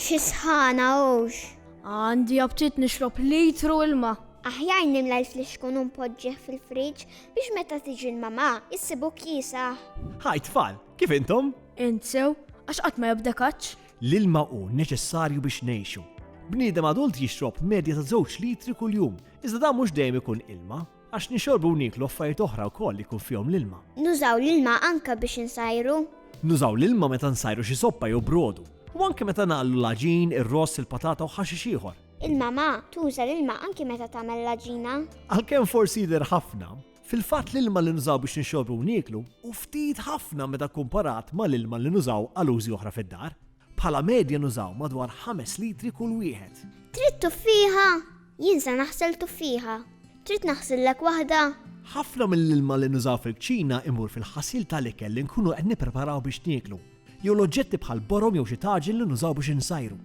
Xi sħana hux! Għandi aptit nixrob litru ilma. Aħjar nimla l-flix kun npoġġih fil-friġġ biex meta tiġi l-mamà issibu kiesaħ. Hi tfal, kif intom? Int sew, għax qatt ma jobda kaċċ. L-ilma hu neċessarju biex ngħixu. Bniedem adult jixrob medja ta' żewġ litri kuljum. Iżda dan mhux dejjem ikun ilma, għax nixorbu u nieklu affarijiet oħra wkoll li jkun fihom l-ilma. Nużaw l-ilma anke biex insajru. Nużaw l-ilma meta nsajru xi soppa jew brodu, u anke meta nagħllu l-għaġin, ir-ross, il-patata u ħaxix ieħor. Il-mama tuża l-ilma anke meta tagħmel l-għaġina. Għalkemm forsi jidher ħafna, fil-fatt l-ilma li nużaw biex nixorbu u nieklu hu ftit ħafna meta kkumparat mal-ilma li nużaw għal użi oħra fid-dar. Bħala medja nużaw madwar ħames litri kull wieħed. Trid tuffiha? Jien se naħsel tuffieħa. Trid naħsillek waħda? Ħafna mill-ilma li nużaw fil-kċina imur fil-ħasil ta' l-ikel li nkunu qed nippreparaw biex nieklu, jew l-oġġetti bħal borom jew xi taġin li nużaw biex insajru.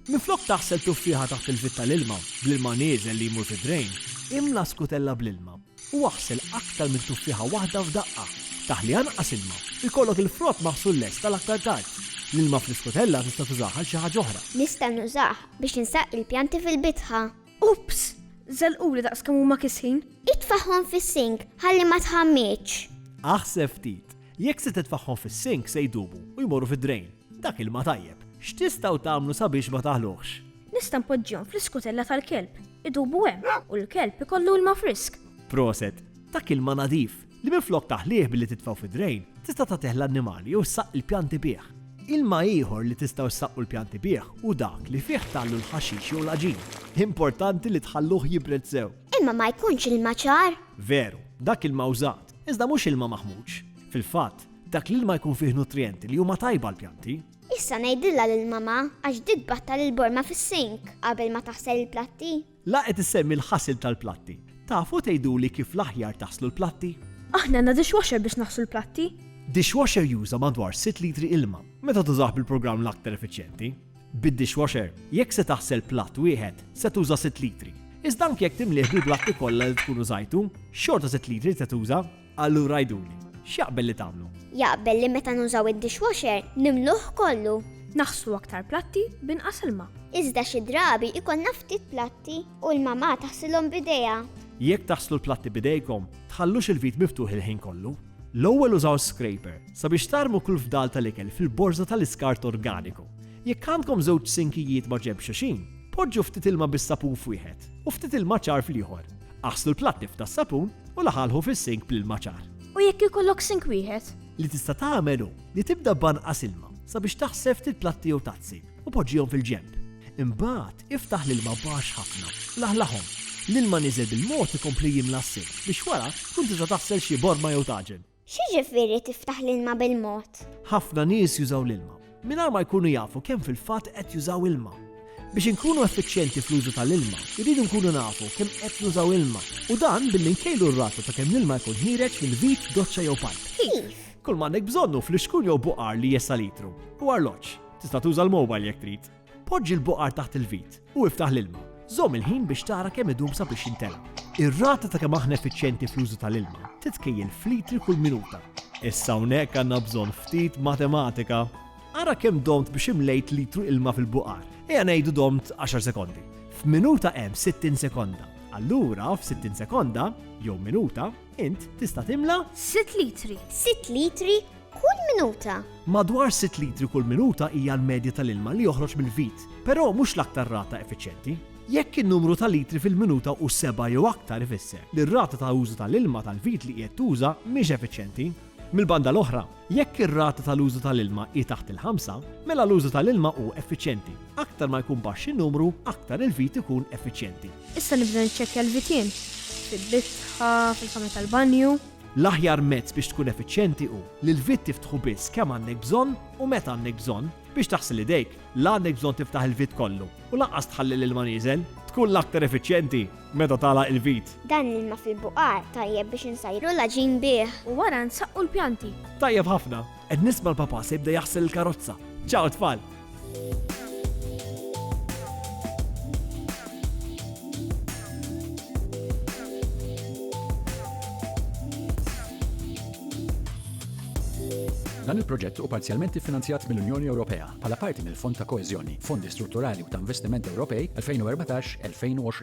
Minflok taħsel tuffieħa taħt il-vit ta' l-ilma, bl-ilma nieżel li jmur fid-drejn, imla skutella bl-ilma. u aħsel aktar minn tuffieħa waħda f'daqqa. Taħli anqas ilma. Ikollok il-frott maħsul lest għal aktar tard. L-ilma fl-iskotella tista' tużah għal xi ħaġa oħra. Nista' nużah biex insaqi l-pjanti fil-bitħa. Ups! Żelquli daqs kemm huma kisħin! Itfagħhom fis-sink ħalli ma tħammidx. Aħseb ftit. Jekk se titfagħhom fis-sink se jdubu u jmorru fid-drain. Dak il-ma tajjeb, x'tistgħu tagħmlu sabiex ma taħluhx? Nista' npoġġihom fl-iskutella tal-kelb, idubu hemm u l-kelb ikollu ilma frisk. Proset, dak ilma nadif, li minflok taħlih billi titfgħu fid-drejn, tista' tagħtih l-annimali jew ssaqq il-pjanti bih. Ilma ieħor li tistgħu ssaqqu l-pjanti bih hu dak li fih tagħllu l-ħaxix jew l-għaġin. Importanti li tħalluh jibred sew. Imma ma jkunx ilma ċar? Veru, dak ilma użat, iżda mhux ilma maħmuġ. Fil-fatt, Dak l-ilma jkun fih nutrijenti li huma tajba għall-pjanti. Issa ngħidilha lil mamà għax di tbattal il-borma fis-sink qabel ma taħsel il-platti. La qed issemmi l-ħasil tal-platti. Tafu tgħiduli kif l-aħjar taħslu l-platti? Aħna għandna dishwasher biex naħslu l-platti. Dishwasher juża madwar sitt litri ilma meta tużah bil-programm l-aktar effiċjenti. Bid-dishwasher, jekk se taħsel platt wieħed, se tuża sitt litri. Iżda anki jekk timlih bil-platti kollha li tkun użajtu, xorta sitt litri se tuża. Allura għiduli, x'jaqbel li tagħmlu? Jaqbel li meta nużaw id-dishwasher nimluh kollu. Naħslu aktar platti b'inqas ilma. Iżda xi drabi jkollna ftit platti u l-mamà taħsilhom b'idejha. Jekk taħslu l-platti b'idejkom, tħallux il-vit miftuħ il-ħin kollu. L-ewwel użaw scraper sabiex tarmu kull fdal tal-ikel fil-borża tal-iskart organiku. Jekk għandkom żewġ sinkijiet maġenb xuxin, poġġu ftit ilma bis-sapun f'wieħed u ftit ilma ċar fl-ieħor. Aħslu l-platti f'tas sapun u laħalħu fis-sink bl-ilma ċar. U jekk ikollok sink wieħed? Li tista' tagħmel hu li tibda b'anqas ilma sabiex taħsel ftit platti jew tazzi u poġġihom fil-ġenb. Imbagħad iftaħ l-ilma baxx ħafna, laħlaħhom. L-ilma niżel bil-mod ikompli jimla s-sink biex wara tkun tista' taħsel xi borma jew taġen. X'jiġifieri tiftaħ l-ilma bil-mod? Ħafna nies jużaw l-ilma mingħajr ma jkunu jafu kemm fil-fatt qed jużaw ilma. Biex inkunu effiċjenti fl-użu tal-ilma, irridu nkunu nafu kemm qed nużaw ilma, u dan billi nkejlu r-rata ta' kemm l-ilma jkun ħiereġ minn vit, doċċa jew pajp. Kif? Kull m'għandek bżonn hu flixkun jew buqar li jessa' litru, u arloġġ. Tista' tuża l-mowbajl jekk trid. Poġġi l-boqar taħt il-vit u iftaħ l-ilma. Żomm il-ħin biex tara kemm idum sabiex jintela'. Ir-rata ta' kemm aħna effiċjenti fl-użu tal-ilma titkejjel f'litri kull minuta. Issa hawnhekk għandna bżonn ftit matematika. Ara kemm domt biex imlejt litru ilma fil-boqar. Ejja ngħidu domt 10 sekondi. F'minuta hemm 60 sekonda. Allura f'60 sekonda, jew minuta, int tista' timla' 6 litri. 6 litri kull minuta. Madwar sitt litri kull minuta hija l-medja tal-ilma li joħroġ mill-vit, però mhux l-aktar rata effiċjenti. Jekk in-numru ta' litri fil-minuta hu sebgħa jew aktar ifisser li r-rata ta' użu tal-ilma tal-vit li qiegħed tuża mhix effiċjenti. Mill-banda l-oħra, jekk ir-rata tal-użu tal-ilma hi taħt il-ħamsa, mela l-użu tal-ilma hu effiċjenti. Aktar ma jkun baxx in-numru, aktar il-vit ikun effiċjenti. Issa nibda niċċekkja l-vitien, fil-bitħa, fil-kamra tal-banju. L-aħjar mezz biex tkun effiċjenti hu li l-vit tiftħu biss kemm għandek bżonn u meta għandek bżonn. Biex taħsel idejk, la għandek bżonn tiftaħ il-vit kollu u lanqas tħalli l-ilma nieżel. Tkun l-aktar effiċjenti meta tagħlaq il-vit. Dan l-ilma fil-buqar tajjeb biex insajru l-għaġin bih. U wara nsaqqu l-pjanti. Tajjeb ħafna! Qed nisma' l-papà se jibda jaħsel il-karozza. Ciao tfal! Dan il-proġett u parzjalment iffinanzjat mill-Unjoni Ewropea bħala parti mill-Fond ta' Koeżjoni, Fondi Strutturali u ta' Investiment Ewropej 2014-2020.